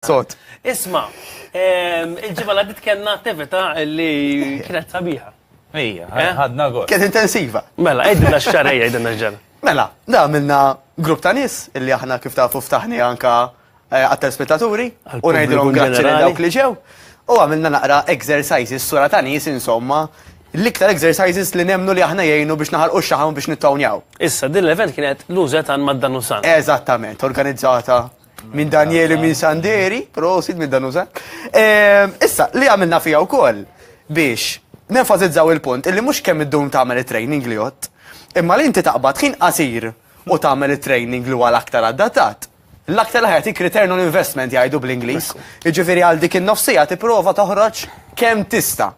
Sot. Isma, ehm, il-ġimma l-għaddit kena attività li kienet sabiħa. Ija, eh? ħadna għor. Kienet intensiva. Mela, għedna xġara, għedna xġara. Mela, da minna grupp ta' nis illi aħna kif ta' fuftaħni anka eh, għat-telspettaturi u najdilom grazzi li dawk li ġew. U għamilna naqra exercises sura ta' nis insomma l-iktar exercises li nemnu li aħna jgħinu biex naħal u xaħam biex nittawnjaw. Issa, din l-event kienet l-użet għan maddan u san. Eżattament, organizzata Minn Danieli minn Sanderi, prosit minn Danusa. Ehm, issa, li għamilna fija wkoll biex nenfasizzaw il-punt illi mhux kemm id-dum tagħmel it-training li jott, imma li inti taqbad ħin qasir u tagħmel it-training li huwa l-aktar addattat. L-aktar li ħajtik return on investment jgħidu bl-Ingliż. Jiġifieri għal dik in-nofsija tipprova toħroġ kemm tista'.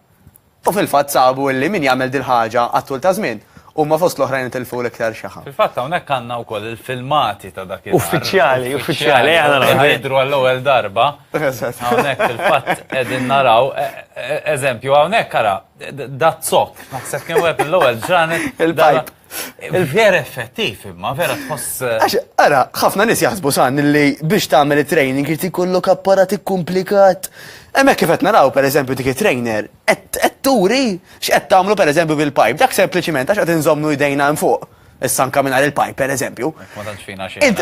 U fil-fatt sabu illi min jagħmel dil-ħaġa għat-tul ta' żmien, huma fost l-oħrajn itilfu l-iktar xaħam. Fil-fatt hawnhekk għandna wkoll il-filmati ta' dakinhar. Uffiċjali, uffiċjali, eħe naraw. Eħe jidhru għall-ewwel darba. Eżatt. Hawnhekk fil-fatt qegħdin naraw, eżempju, hawnhekk ara, da zokk, naħseb kien wieħed mill-ewwel ġranet. Il-pipe. Il-vjer effettiv imma, vera tħoss. Eh, Għax, ara, ħafna nis jaħsbu san li biex tagħmel training irid ikollok apparat ikkumplikat. Hemmhekk kif qed naraw pereżempju dik it-trainer qed turi x'qed tagħmlu pereżempju bil-pipe. Dak sempliċiment għax qed inżommu jdejna hemm fuq. Issa anka mingħajr il-pipe pereżempju. Ma tantx fina xejn.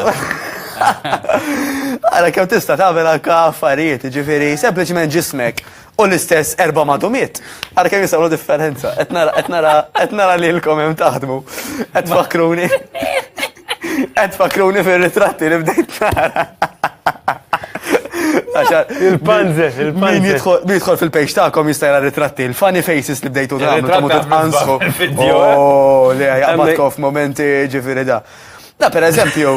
Ara kemm tista' tagħmel anke affarijiet, ġifieri sempliċiment ġismek u l-istess erba' madumiet. Għara kemm jisawlu differenza. Qed nara qed nara qed nara lilkom hemm taħdmu. Qed tfakkruni. Qed tfakkruni fir-ritratti li bdejt nara. Il-panze, il-panze. Min jidħol fil-pejx tagħkom jista' jara ritratti, il-funny faces li bdejtu tagħmlu ta' mutu tqansħu. Oh, li għabatkom f'momenti ġifieri da. Da per eżempju.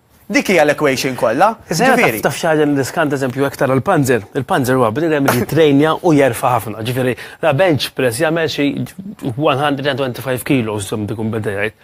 Dik hija l-equation kollha. Ġifieri. Taf xi ħaġa niddiskant eżempju hekk tara l-panzer. Il-panzer huwa bniedem li jitrejnja u jerfa' ħafna. Ġifieri, la bench press jagħmel xi 125 kilos żomm dikun beda jgħid.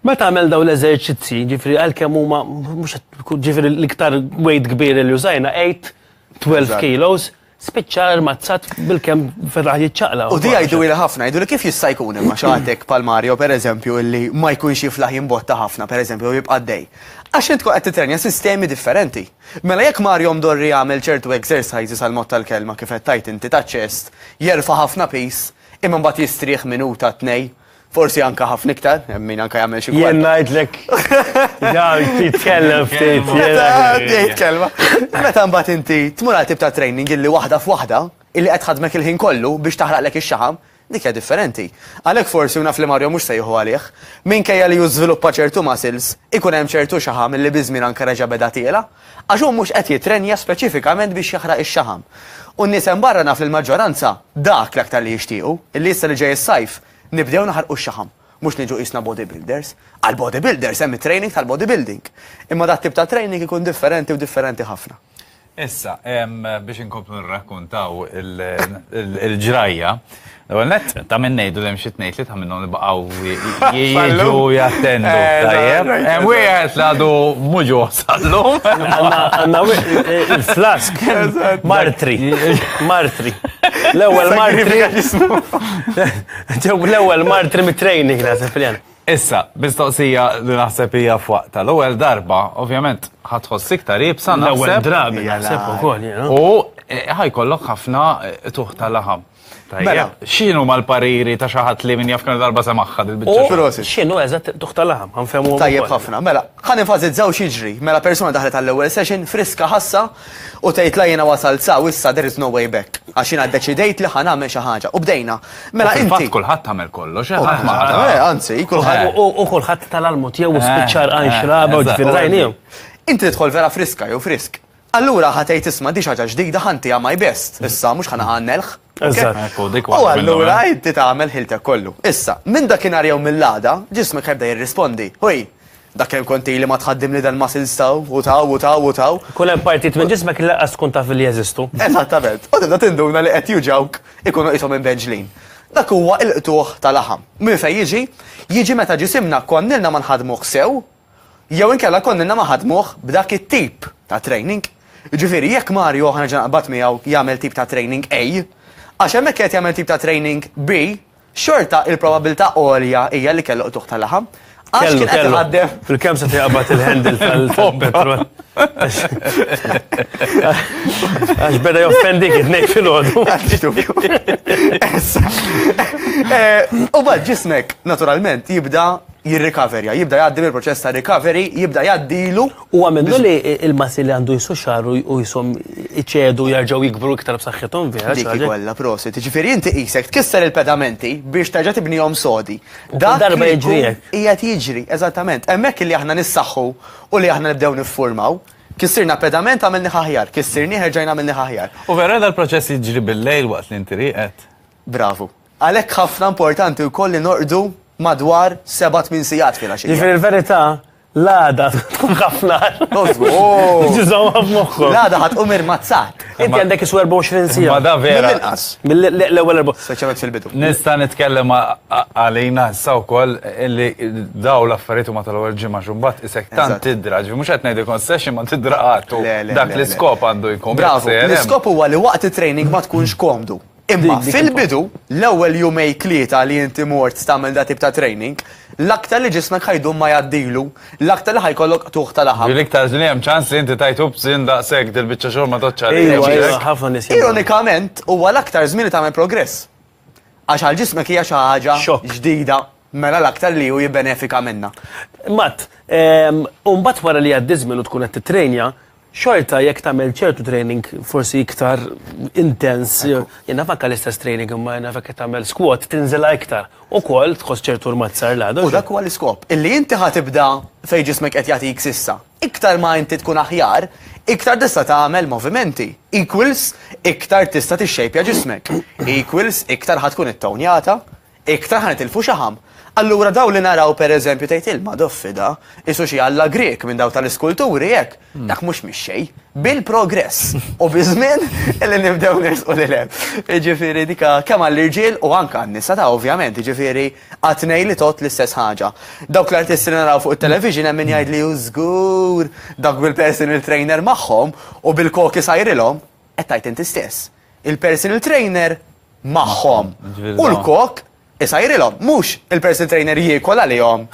Meta għamel dawn l-eżerċizzji, ġifieri għalkemm huma mhux ġifieri l-iktar weight kbir li użajna 8, 12 kilos. spiċċa armazzat bil-kem ferraħ jiċċaqla. U di għajdu il ħafna, għajdu li kif jista' jkun imma xaħtek pal Mario per eżempju illi ma jkunx jiflaħ jimbotta ħafna per eżempju jibqa' dej. Għax int tkun qed titrenja sistemi differenti. Mela jekk Mario mdorri jagħmel ċertu exercises għal mod tal-kelma kif qed tajt inti ta' ċest, jerfa' ħafna pis, imma mbagħad jistrieħ minuta tnej Forsi anka ħafna iktar, hemm min anka jagħmel xi Jien ngħidlek dan titkellem ftit. Tgħid kelma. Meta mbagħad inti tmur għal tip ta' training illi waħda f'waħda, illi qed ħadmek il-ħin kollu biex taħraqlek ix-xaħam, dik hija differenti. Għalhekk forsi u naf li Mario mhux se jieħu għalih, minkejja li hu żviluppa ċertu muscles, ikun hemm ċertu xaħam illi biż-żmien anka reġa' beda tiela, għax hu mhux qed jittrenja speċifikament biex jaħraq ix-xaħam. U n-nies hemm barra naf li l-maġġoranza dak l-aktar li jixtiequ, illi issa li ġej is-sajf, Nibdew naħarqu x-xaħam, mhux niġu qisna bodybuilders. Għall-bodybuilders hemm it-training tal-bodybuilding. Imma dat-tip ta' training ikun differenti u differenti ħafna. Issa, biex inkomplu nirrakkuntaw il-ġrajja, l-ewwel nett ta' min ngħidu li hemm xi tnejn tlieta minnhom li baqgħu jiġu jattendu. Hemm wieħed li għadu mhu ġuh. tal-lum. Għanna il-flask. Martri. Martri. L-ewel martri. L-ewel martri mit-training, nasib jena. Issa, bistoqsija li naħseb hija fuq tal-ewwel darba, ovvjament ħatħoss iktar ibsa naħseb. L-ewwel drabi naħseb ukoll. U eh, ħajkollok ħafna eh, tuħ tal-laħam. Mela, xinu ma l-pariri ta' xaħat li minn jafkan darba semaħħa dil-bicċa? Xinu eżat tuħta laħam, għanfemu. Tajjeb ħafna, mela, għan infazizzaw xieġri, mela persona daħlet għall-ewel session, friska ħassa, u tgħid la jena wasal sa, u issa there is no way back. Għax jena deċidejt li ħan għamel xaħġa, u bdejna. Mela, inti. Kulħadd għamel kollox, eh, eh, anzi, kulħadd. U kulħadd tal-almut jew eh, spiċċar għan xraba, u ġifir Inti tidħol vera friska jew frisk. Allura ħa tgħid isma' din xi ħaġa ġdida ħa ntiha my best, issa mhux ħa naqa' għan-nelħ. Eżatt. U allura inti tagħmel ħiltek kollu. Issa, minn dakinhar jew mill-għada, ġismek ħa jibda jirrispondi, Hui! Dak kemm kont ili ma tħaddimli dal-muscles taw, u taw, u taw, u taw. Ikun hemm partijiet minn ġismek li lanqas tkun taf li jeżistu. Eżattament. U tibda tinduna li qed juġgħuk, ikunu qishom imbenġlin. Dak huwa l-qtugħ ta' laħam. Minn fejn jiġi? Jiġi meta ġisimna konnilna ma nħaddmuh sew, Jew inkella konnilna ma ħadmuh b'dak it-tip ta' training. Jiġifieri jekk Mario ħa nerġa' naqbad miegħu jagħmel tip ta' training A, għax hemmhekk qiegħed jagħmel tip ta' training B, xorta il-probabbiltà għolja hija li kellu qtugħ ta' laħam. Għax kien qed iħaddem. Fil-kemm setgħu jaqbad il-handle tal-petrol. Għax beda joffendik it-tnejn filgħodu. U bad ġismek, naturalment, jibda jirrikaverja, jibda jgħaddi mill-proċess ta' recovery, jibda jgħaddilu. Huwa minnu li l-massi li għandu jsu xahar u qishom iċedu jerġgħu jikbru iktar b'saħħithom vera. Dik kollha prosit. Ġifieri inti qisek tkisser il-pedamenti biex terġa' tibnihom sodi. Dak darba jiġri hekk. Qiegħed jiġri, eżattament. Hemmhekk li aħna nissaħħu u li aħna nibdew niffurmaw. Kissirna pedament għamilni aħjar, kissirnieh erġajna għamilni aħjar. U vera dal-proċess jiġri bil-lejl waqt li inti rieqed? Bravu. Għalhekk ħafna importanti wkoll li norqdu madwar seba' tmien sigħat filgħaxija. Jiġifieri l-verità, l-għada tkun ħafna aħjar. L-għada ħa tqum irmazzat. Inti għandek isu 24 siegħa. Ma da vera. Mill-inqas. Mill-ewwel erba'. Speċjalment fil-bidu. Nista' nitkellem għalina issa wkoll li daw l-affarijiet huma tal-ewwel ġimgħa xi mbagħad isek tant tidra, ġifieri mhux qed ngħidilkom session ma tidra qatt. Dak l-iskop għandu jkun. Bravu. L-iskop huwa li waqt it-training ma tkunx komdu. Imma fil-bidu, l-ewwel jumej tlieta li inti mort tagħmel da tip ta' training, l-aktar li ġismek ħajdum ma jgħaddilu, l-aktar li ħajkollok qtugħ ta' laħam. L-iktar li hemm ċans li inti tajtu b'sin daqshekk dil-biċċa xogħol ma tgħoddx għalih. Ejwa, ejwa, ħafna nies. Ironikament, huwa l-aktar żmien li tagħmel progress. Għax għal ġismek hija xi ħaġa ġdida, mela l-aktar li hu jibbenefika minnha. Mat, u mbagħad wara li jgħaddi żmien u tkun qed tittrejnja, Xorta jekk tagħmel ċertu training forsi iktar intens, jien naf anke l-istess training imma jien naf jekk qed tagħmel squat tinżilha iktar. Ukoll tħoss ċertu rmat sar l-għada. U dak huwa l-iskop, illi inti ħa tibda fejn ġismek qed jagħtik s'issa. Iktar ma inti tkun aħjar, iktar tista' tagħmel movimenti. Equals iktar tista' tixxejpja ġismek. Equals iktar ħa tkun ittownjata, Iktar ħa nitilfu xaħam. Allura dawn li naraw per eżempju tgħid ilma doffi da, qisu xi alla Grieg minn dawk tal-iskulturi hekk, dak mhux mix-xejn. Bil-progress u biż-żmien li nibdew nersqu lil hemm. Jiġifieri dika kemm għall-irġiel u anke għan-nisa ta' ovvjament, jiġifieri qatt ngħid li tgħodd l-istess ħaġa. Dawk l-artisti li naraw fuq it-television hemm min jgħidli hu żgur dak bil-personal trainer magħhom u bil-koki sajrilhom, qed tgħid inti stess. il-personal trainer magħhom. U l-kok isajrilhom, mhux il-personal trainer jiekol għalihom.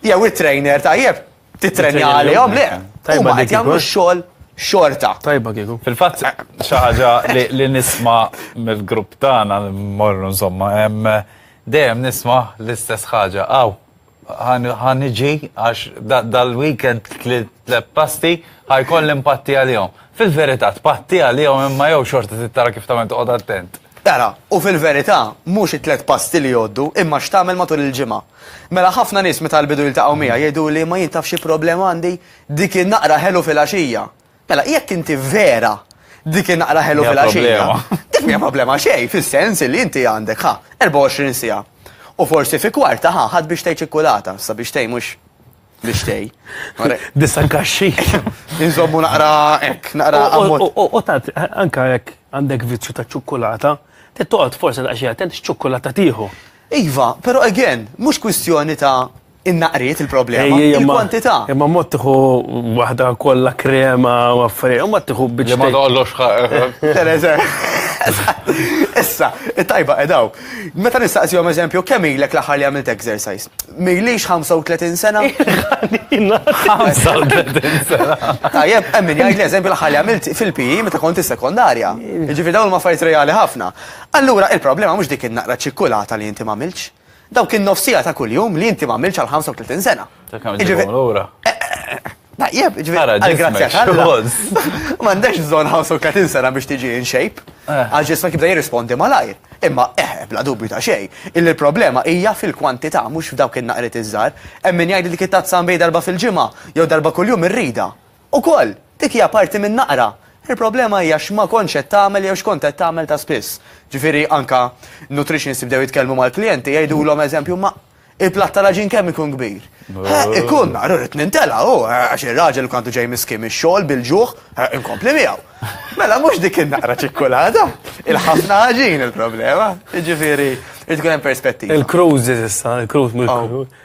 Jew it-trainer tajjeb titrenja għalihom le. Tajba qed jagħmlu x-xogħol xorta. Tajba kieku. Fil-fatt eh. xi ħaġa li nisma' mill-grupp tagħna morru insomma, dejjem nisma' l-istess ħaġa. Aw, Ħa niġi għax dal-weekend klilt tliet pasti, ħa jkolli npatti għalihom. Fil-verità, tpatti għalihom imma jew xorta trid tara kif tagħmel toqgħod attent. Ara, u fil-verità, mhux it-tliet pasti li jgħoddu, imma x'tagħmel matul il-ġimgħa. Mela ħafna nies meta jbidu jiltaqgħu miegħi jgħiduli imma jien taf xi problema għandi, dik in-naqra ħelu filgħaxija, Mela, jekk inti vera dik inaqra ħelu fil-għaxija. Dik mija problema xej, fil-sens li inti għandek ħa, 24 sija. U forsi fi kwarta ħa, ħad biex tej ċikkulata, sa biex tej mux biex tej. Disa kaxxi. Inżommu naqra ek, naqra għammu. U tant, anka ek għandek vizzju ta' ċikkulata, t-toqgħod forsi daqxie attent x'ċikkulata tieħu. Iva, pero again, mux kwistjoni ta' Innaqriet il-problema, il-kwantità. Imma mod tiħu waħda kollha krema u affarijiet, imma tiħu biex. Ma doqlox Issa, tajba edaw. Meta nistaqsihom eżempju, kemm ilek l-aħħar li għamilt exercise? Milix 35 sena? 35 sena. Tajjeb, hemm min jgħid eżempju l-aħħar li għamilt fil-PI e meta kont is-sekondarja. Ġifi dawn ma fajt reali ħafna. Allura il-problema mhux dik in-naqra ċikkulata li inti ma għamilx. Dawk in-nofs siegħa ta' kuljum li inti m'għamiltx għal 35 sena. Dak għamil ġibhom lura. Tajjeb, ġifieri għall-grazzja tal-Alla. M'għandekx bżonn 35 sena biex tiġi in shape. Għax ġismek jibda jirrispondi malajr. Imma eh, bla dubju ta' xejn, illi l-problema hija fil-kwantità mhux f'dawk in-naqriet iż-żgħar. Hemm min jgħid li dik it-tazza nbej darba fil-ġimgħa jew darba kuljum irridha. Ukoll, dik hija parti minn naqra. Il-problema hija x'ma kontx qed tagħmel jew x'kont qed tagħmel ta' spiss. Ġifieri, anke nutritionist jibdew jitkellmu mal-klijenti, jgħidulhom, eżempju, ma il-platt tal-għaġin kemm ikun kbir? Eħ, ikun, naqra rrid nintela', hu, għax ir-raġel kien għadu ġej miskin mix-xogħol bil-ġuħ, eħ, inkompli miegħu. Mela mhux dik in-naqra ċikkulata, il-ħafna għaġin il-problema. Jiġifieri, irid ikun hemm perspettiva. Il-cruises issa, il-cruise mill-cruise.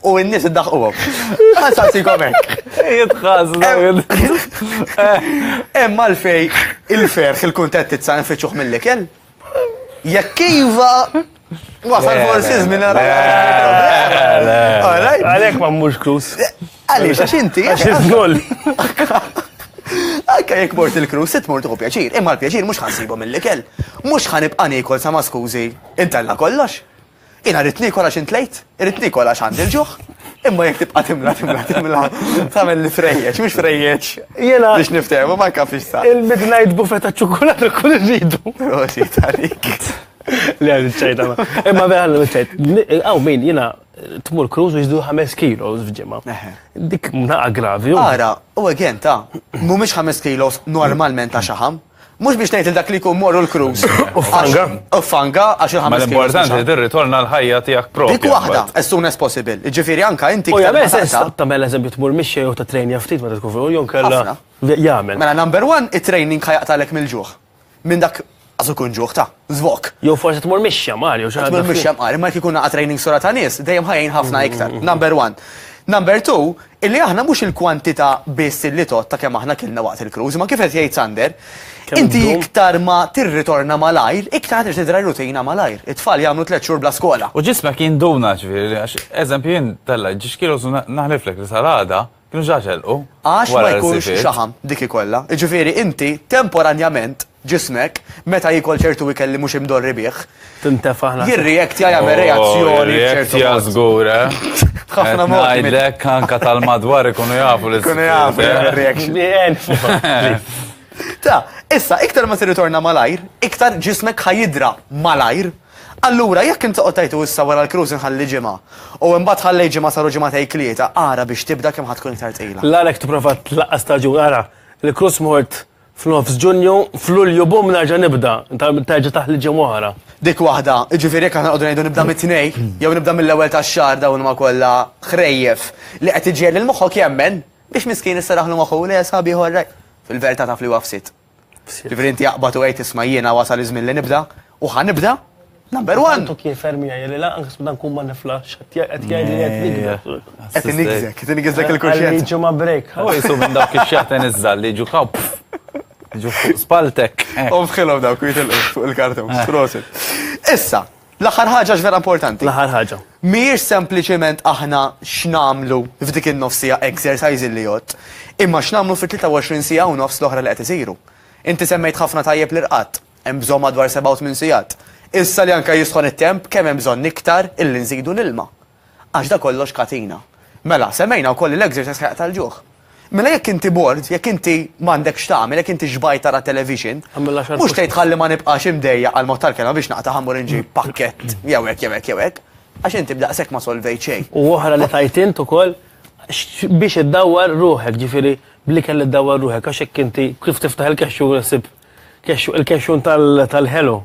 U n-nies iddaħquhom. Ħansaqsikom hekk. Jitħass dawn. Hemm għalfej il-ferħ il-kuntentizza nfittxuh mill-ikel. Jekk iva, wasal forsi żmien ara. Għalhekk ma mmux krus. Għaliex għax inti. Għax iżgol. Anka jekk mort il-krus, sit mort u pjaċir. Imma l-pjaċir mhux ħansibhom mill-ikel. Mhux ħanibqa' niekol sa ma skużi. Intella kollox. Jiena rrid niekol għax intlejt, irrid niekol għax għandi l-ġuħ, imma jekk tibqa' timla timla timla tagħmel li trejjeġ, mhux trejjeġ. Jiena biex niftehmu ma nkafix sa. Il-midnight buffet taċ-ċokolat ukoll irridu. Prosit għalik. Le għal ċajta ma. Imma vera għal ċajt. Għaw min jiena tmur kruż u jizdu 5 kilos f'ġimgħa. Dik naqa gravi. Ara, u again ta' mhumiex 5 kilos normalment ta' xaħam. Mhux biex ngħid lil dak li jkun moru l-cruise. U f'Fanga. U f'Fanga għax il-ħames. Ma l-importanti li tirritorna l-ħajja tiegħek proprja. Dik waħda, as soon as possible. Jiġifieri anke inti. U jagħmel sens tagħmel eżempju tmur mixi jew tittrejnja ftit meta tkun fuq jew inkella jagħmel. Mela number one, it-training ħa jaqtagħlek mill-ġuħ. Minn dak għaż ikun ġuħ ta'. Zvok. Jew forsi tmur mixja mar jew xi ħaġa. Tmur mixja mar, imma jekk ikun naqa' training sura ta' nies, dejjem ħajjin ħafna mm-hmm. iktar. Number one. Number two, illi aħna mhux il-kwantità biss illi tot ta' kemm aħna kilna waqt il-cruise, ma kif qed jgħid Sander, inti iktar ma tirritorna malajr, iktar qed tidra rutina malajr. It-tfal jagħmlu tliet xhur bla skola. U ġismek jinduna ġifieri, għax eżempju jien tella ġixkielu naħliflek li salada Kienu ġa telqu. Għax ma jkunx xaħam dik ikollha. Jiġifieri inti temporanjament ġismek meta jiekol ċertu ikel li mhux imdorri bih. Tintefa' ħna. Jirreactja jagħmel reazzjoni b'ċertu. Jirreactja żgur, eh? Ħafna mod. Ngħidlek anke tal-madwar ikunu jafu li. Ikunu jafu reaction. Ta, issa, iktar ma tirritorna malajr, iktar ġismek ħajidra malajr Allura, jekk int toqgħod tgħid u issa wara l-cruise inħalli ġimgħa, u imbagħad ħallejt ġimgħa saru ġimagħtej tlieta, ara biex tibda kemm ħa tkun iktar tqila. L-agħar jekk tipprova tlaqqas staġun, ara, il-cruise mort f'nofs Ġunju, f'Lulju bumm nerġa' nibda, terġa' taħli ġimgħa oħra. Dik waħda, jiġifieri jekk aħna nqogħdu ngħidu nibda mit-Tnejn, jew nibda mill-ewwel tax-xahar dawn huma kollha ħrejjef li qed iġiegħel lil moħħok jemmen biex miskin issarraħlu moħħu, le, sħabiħor, fil-verità taf li huwa fsit. Ġifieri inti aqbad u għid isma' jiena wasal iż-żmien li nibda u ħa nibda number one. Intu kien ferm jgħid li lanqas meta nkun ma niflaħx qed jgħid li qed nikber. Qed inigżek, qed inigżek il-kuxjenza. Għalli jiġu ma' break. U jisu minn dawk ix-xjaħten iż-żgħar li jiġu kaw jiġu fuq spaltek. U fħilhom dawk jitilqu fuq il-karton. Prosit. Issa, L-aħħar ħaġa x'vera importanti. L-aħħar ħaġa. Mhijiex sempliċement aħna x'nagħmlu f'dik in-nofs siegħa exercise li jgħodd, imma x'nagħmlu fit-23 siegħa u nofs l-oħra li qed isiru. Inti semmejt ħafna tajjeb l-irqad. Hemm bżonn madwar seba' u tmien sigħat. Issa li anke jisħon it-temp, kemm hemm bżonn iktar illi nżidu l-ilma. Għax da kollox katina. Mela, semmejna wkoll li l-exercise ħajqta' l-ġuħ. Mela jekk inti bored, jekk inti m'għandek x'tagħmel, jekk inti xbajt tara television, mhux tgħid ħalli ma nibqax imdejjaq għall-mod tal-kelma biex naqtaha mmur inġib pakkett jew hekk jew hekk jew hekk, għax inti b'daqshekk ma solvejt xejn. U oħra li tgħid int ukoll, biex iddawwar ruħek, ġifieri bl-ikel iddawwar ruħek, għax jekk inti kif tiftaħ il-kexxun u ssib kexxun, il-kexxun tal-Hello.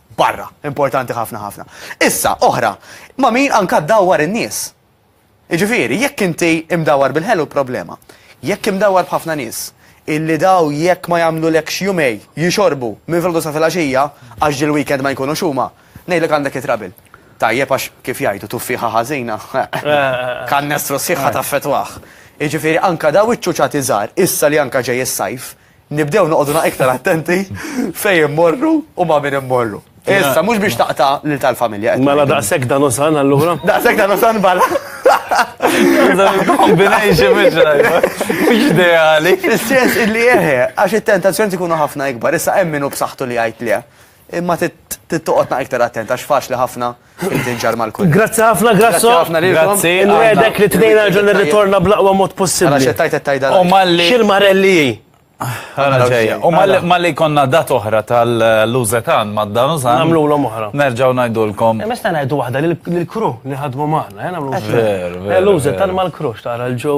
barra, importanti ħafna ħafna. Issa, oħra, ma' min anka dawwar in-nies. Iġifieri, jekk inti imdawwar bil-ħelu problema. Jekk imdawwar b'ħafna nies, illi daw jekk ma jagħmlulekx jumej jixorbu minn filgħodu sa filgħaxija għax ġie l-weekend ma jkunux huma, ngħidlek għandek it-trouble. Tajjeb għax kif jgħidu tuffieħa ħażina, kannestru sħiħ ħa taffettwah. Iġifieri anka daw iċ-ċuċati żgħar, issa li anka ġej is-sajf, Nibdew noqogħdu na iktar attenti fejn immorru u ma' min immorru. Issa, mhux biex taqta' lil tal-familja. Mela daqshekk dan osan allura? Daqshekk dan osan bala. Combination mhux tajba. Mhux ideali. Fis-sens illi eħe, għax it-tentazzjoni tkunu ħafna ikbar. Issa hemm min hu b'saħħtu li jgħid le. Imma trid toqgħod naqra iktar attent għax faċli ħafna li tinġar mal-kulħadd. Grazzi ħafna, Grasso. Grazzi. Nwedek li tnejn għal ġon irritorna bl-aqwa mod possibbli. Għala xettajt it-tajda. U malli. Xil-marelli. Għala ġejja. U malli konna dat oħra tal-lużetan ma' dan użan. Namlu l oħra. Nerġaw najdulkom. E, Mesta najdu waħda l-kru li ħadmu maħna. Eh, Veru, veru. Lużetan mal-krux tara l-ġew.